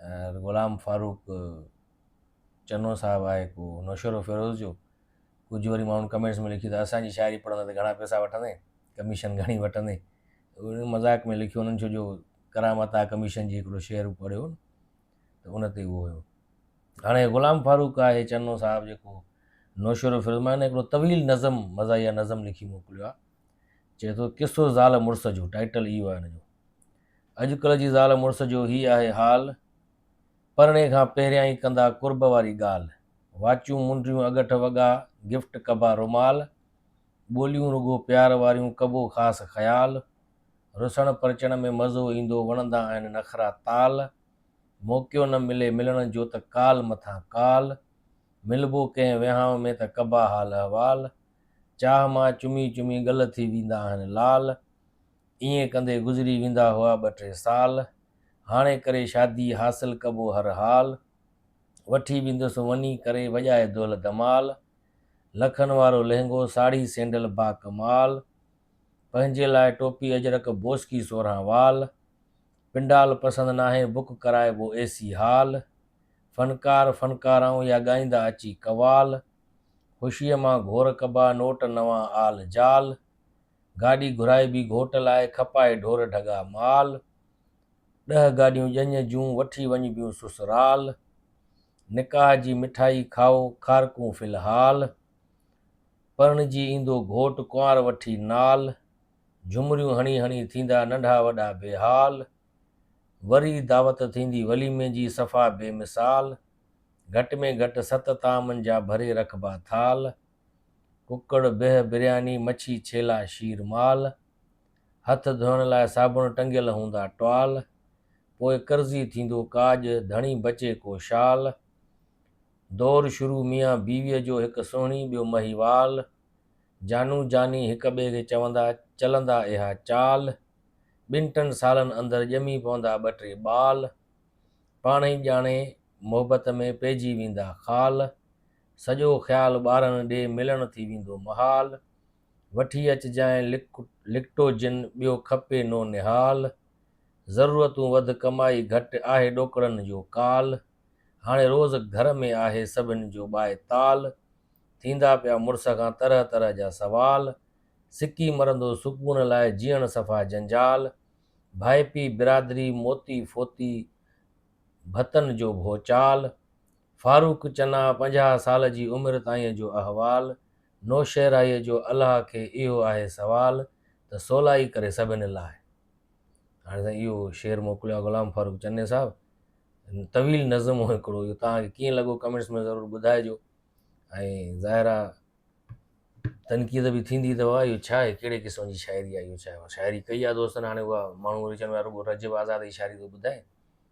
۽ غلام فاروق چنو صاحب آهي ڪو نوشهرو فيروز جو ڪجهه وري ماڻهن ڪمينٽس ۾ لکي ته اسانجي شاعري پڙهندي ته گهڻا پيسا وٺندي ڪميشن گهڻي وٺندي ان مذاق ۾ لکيو انهن ڇوجو ڪرامت آ ڪميشن جي هڪڙو شعر پڙهيو ته ان تي اهو هيو هاڻي غلام فاروق آهي چنو صاحب جيڪو نوشهرو فيروز مان هڪڙو طويل نظم مزاحيه نظم لکي موڪليو آهي چئي ٿو قصو زال مڙس جو ٽائيٽل اهو آهي ان جو اڄڪلهه جي زال مڙس جو هي آهي حال، پرڻي کان پهريان ئي ڪندا قرب واري ڳالهه، واچون منڊيون اڳٺ وڳا گفٽ ڪبا رومال، ٻوليون رڳو پيار واريون ڪبو خاص خيال، رسڻ پرچڻ ۾ مزو ايندو وڻندا آهن نخرا تال، موقعو نه ملي ملڻ جو ته ڪال مٿان ڪال، ملبو ڪنهن وهانء ۾ ته ڪبا حال احوال، چاهه مان چمي چمي ڳل ٿي ويندا آهن لال. ائين ڪندي گذري ويندا هئا ٻه ٽي سال هاڻي ڪري شادي حاصل ڪبو هر حال وٺي ويندس وڃي ڪري وڄائي دول دمال لکن وارو لهنگو ساڙهي سينڊل با ڪمال پنهنجي لاء ٽوپي اجرڪ بوسڪي سورهان وال پنڊال پسند ناهي بڪ ڪرائبو اي سي هال فنڪار فنڪارائون يا ڳائيندا اچي قوال خوشيء مان گهور ڪبا نوٽ نوان آل جال گاڏي گهرائبي گهوٽ لاء کپائي ڍور ڍڳا مال ڏهه گاڏيون ڄڃ جون وٺي وڃبيون سسرال نڪاح جي مٺائي کائو کارڪون في الحال پرڻجي ايندو گهوٽ ڪنوار وٺي نال جهمريون هڻي هڻي ٿيندا ننڍا وڏا بي حال وري دعوت ٿيندي وليمي جي صفا بي مثال گهٽ ۾ گهٽ ست طعامن جا ڀري رکبا ٿال ڪڪڙ، بيهه، برياني، مڇي، ڇيلا، شير، مال، هٿ ڌوئڻ لاء صابڻ ٽنگيل هوندا ٽوال، پوء قرضي ٿيندو ڪاڄ، ڌڻي بچي ڪو شال، دور شروع ميان بيويء جو هڪ سهڻي ٻيو مهيوال، جانو جاني هڪ ٻئي کي چوندا چلندا اها چال، ٻن ٽن سالن اندر ڄمي پوندا ٻه ٽي ٻال، پاڻهئي ڄاڻي محبت ۾ پئجي ويندا خال، سڄو خيال ٻارن ڏي ملڻ ٿي ويندو محال، وٺي اچجانء لڪٽو جن ٻيو کپي نو نهال، ضرورتون وڌ ڪمائي گهٽ آهي ڏوڪڙن جو ڪال، هاڻي روز گهر ۾ آهي سڀن جو ٻائي تال، ٿيندا پيا مڙس کان طرح طرح جا سوال، سڪي مرندو سڪون لاء جيئڻ صفا جنجال، ڀائپي برادري موتي ڦوتي ڀتن جو ڀوچال، فاروق چنا پنجاهه سال جي عمر تائين جو احوال نوشهرائيء جو الله کي اهو آهي سوال ته سولائي ڪري سڀني لاء هاڻي سائين اهو شعر موڪليو آهي غلام فاروق چني صاحب طويل نظم هو هڪڙو اهو توهان کي ڪيئن لڳو ڪمنٽس ۾ ضرور ٻڌائجو ۽ ظاهر آ تنقيد به ٿيندي ته واهه اهو ڇا آهي ڪهڙي قسم جي شاعري آهي اهو ڇا شاعري ڪئي آهي دوستن هاڻي اها ماڻهو وري چون رڳو رجب آزاد جي شاعري ٿو ٻڌائي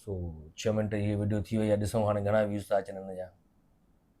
سو ڇهه منٽ جي ويڊيو ٿي وئي آهي ڏسون هاڻي گهڻا ويوز ٿا اچن هن جا.